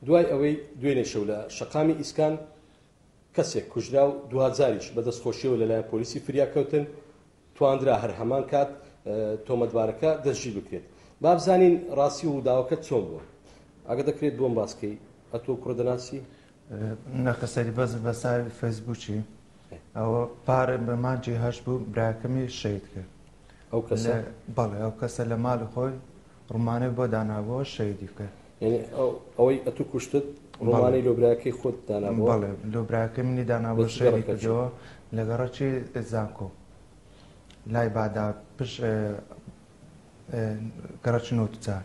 دوای ئەوەی دوێنێ شەو لە شەقامی ئیسکان کەسێک کوژرا و دواجاریش بە دەستخۆشیەوە لەلایەن پۆلیسی فریاکەوتن تواندرا هەر هەمان کات تۆمەتبارەکە دەستژی بکرێت بابزانین ڕاستی و داوەکە چۆن بووە ئەگە دەکرێت بۆم باسکەی ئەتۆ کوڕدەناسی نەخە سەری بەس بە ساوی فەیسبووکی ئەوە پارە بە مانجی هەش بوو براکەمی شەید کرد ئەو کەسە بەڵێ ئەو کەسە لە مال خۆی ڕمانەی بۆ دانابەوە شەیدی بکە یعنی ئەوەی ئەتو کوشتت ڕمانی لۆبراکەی خۆت دانابەوە بەڵێ لۆبراکە منی دانابە شەیدی کردەوە لەگەڕەکی زانکۆ لای بادا پش گەڕەکی نۆتجار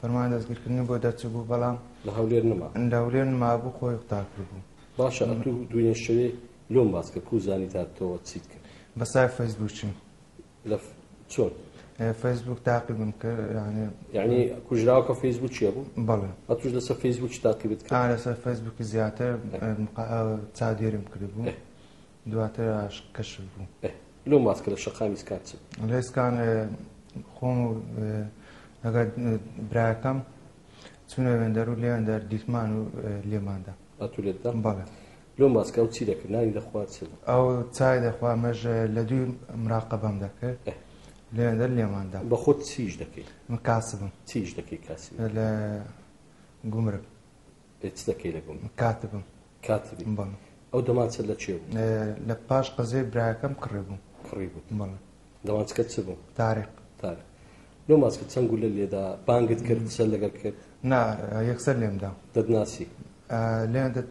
فەرمان دەستگیرکردنی بۆ دەرچبوو بەڵام لە هەولێر نما لە هەولێر نمابوو خۆی قوتار کردبوو باشە ئەتوو دوێنێ شەوێ لۆم باس کە کو زانی تاتەوە چیت کرد بە سای فەیسبووکیم لە چۆن فەیسبوک تاقیبم کرد یعنی یعنی کوژراوکە فەیسبوک چیە بوو بەڵێ ئەتوش لەسەر فەیسبوک تاقیبت کە لەسەر فەیسبوکی زیاتر چادێرم کردبوو دواتر ئاشق کەشف بوو. ئەه لۆم واز کە لە شەقامی سکان چم. لە ئێسکان خۆم و لەگەڵ براکەم چونە وێندەر و لێیان دەر دیتمان و لێماندا ئەتو لێتدا بەڵێ لۆم واز کە ئەو چی دەکرد نانی دەخوارد چ ئەو چای دەخوا مەژ لە دوی مراقەبەم دەکرد لێیان دەر لێماندا بە خۆت چیش دەکەیت من کاسبم چیش دەکەی کاسی لە گومرک ئێ چ دەکەی لە گوم؟ کاتبم. کاتبی؟ بەڵێ. ئەو دەمانچە لە کێ بوو؟ لە پاش قەزێ برایەکەم کڕی بوو. کڕی بوو؟ بەڵێ. دەمانچەکەت چ بوو؟ تاریق. تاریق. لەو ماچکە چەند گولە لێدا؟ بانگت کرد؟ قسەت لەگەڵ کرد؟ نا، یەکسەر لێم دا. دەتناسی؟ لێ دەت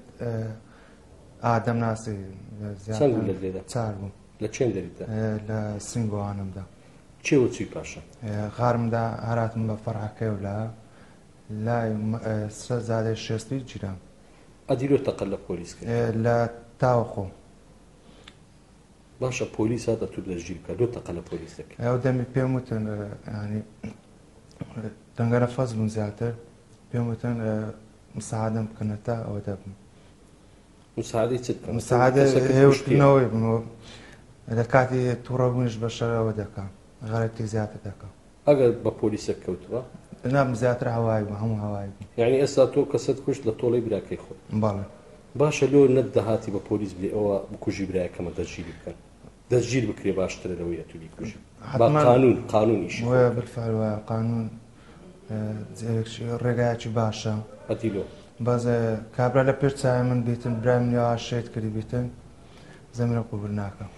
ئا دەمناسی. چەند گولەت لێدا؟ چار بوو. لە کێم دەریت دا؟ لە سنگۆوانم دا. کێ وە چووی پاشان؟ غارم دا، هەر هاتم بە فەڕعەکەی و لا لای م سە زادە شێستی جرام. ئە دیرۆ تە قە لە پۆلیس کە. لە تا وە خۆم. باشە پۆلیس هات ئەتوو دە ژیر بکە لۆ تە قە لە پۆلیس دە کە. ئەو دە می پێم وتن یانی دە گە رە فەس بوون زیاتر پێم وتن مساعدەم بکە نە تا ئە وە دە بم. مساعدەی چت بکە. مساعدە هێ وتنە وە بم. لە کاتی تووڕە بوونیش بە شە رە وە دە کە غە رە بتی زیاتر دە کە. ئەگەر بە پۆلیسەک کەوتبا؟ نام زیاتر هەوای بوو هەموو هەوای بوو. یانی ئێستا تۆ کەسەت کوشت لە تۆڵەی براکەی خۆت؟ بەڵێ. باشە لۆ نەت دەهاتی بە پۆلیس بلێ ئەوە بکوژی برایەکەمە دەستگیری بکەن؟ دەستگیر بکرێ باشترە لەوەی ئەتوو بیکوژی. با قانون قانون ئیشی خۆی بکات. بالفعل وایە قانون ڕێگایەکی باشە. ئەدی لۆ. بەس کابرا لە پێش چاوی من بیتن برای منی ئەوا شەهید کردی بیتن زەمرم قبول ناکەم.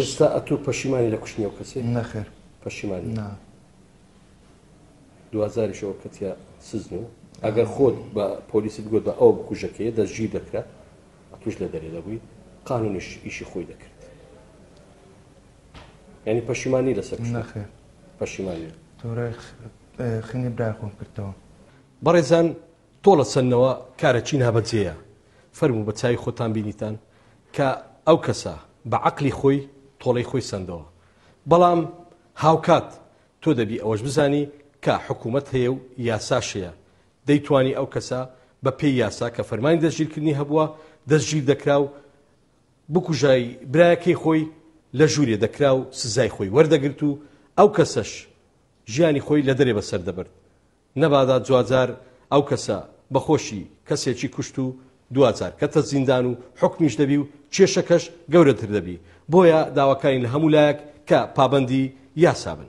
ئێستا ئەتوو پەشیمانی لە کوشتنی ئەو کەسێ نەخێر پەشیمانی نا دوازاریش ئەو کەتیا سزن و ئەگەر خۆت بە پۆلیسی بگوت بە ئەو بکوژەکەی دەستگیر دەکرا توش لە دەرێ دەبووی قانونیش ئیشی خۆی دەکرد ینی پەشیمانی لەسەر نەخێ پەشیمانی تۆرە خنی براخۆم کردەوە بەڕێزان تۆڵە چەندنەوە کارە چی نابەجێیە فەرموو بە چاوی خۆتان بینیتان کە ئەو کەسە بە عەقلی خۆی تۆڵەی خۆی سەندەوە بەڵام هاوکات تۆ دەبی ئەوەش بزانی کە حکوومەت هەیە و یاساشەیە دەیتوانی ئەو کەسە بە پێی یاسا کە فەرمانی دەستگیرکردنی هەبووە دەستگیر دەکرا و بکوژای برایەکەی خۆی لە ژوورێ دەکرا و سزای خۆی وەردەگرت و ئەو کەسەش ژیانی خۆی لە دەرێ بەسەر دەبرد نەبادا جواجار ئەو کەسە بە خۆشی کەسێکی کوشت و دواجار کەتە زیندان و حوکمیش دەبی و کێشەکەش گەورەتر دەبی، بۆیە داواکارین لە هەموو لایەک کە پابەندی یاسا بن.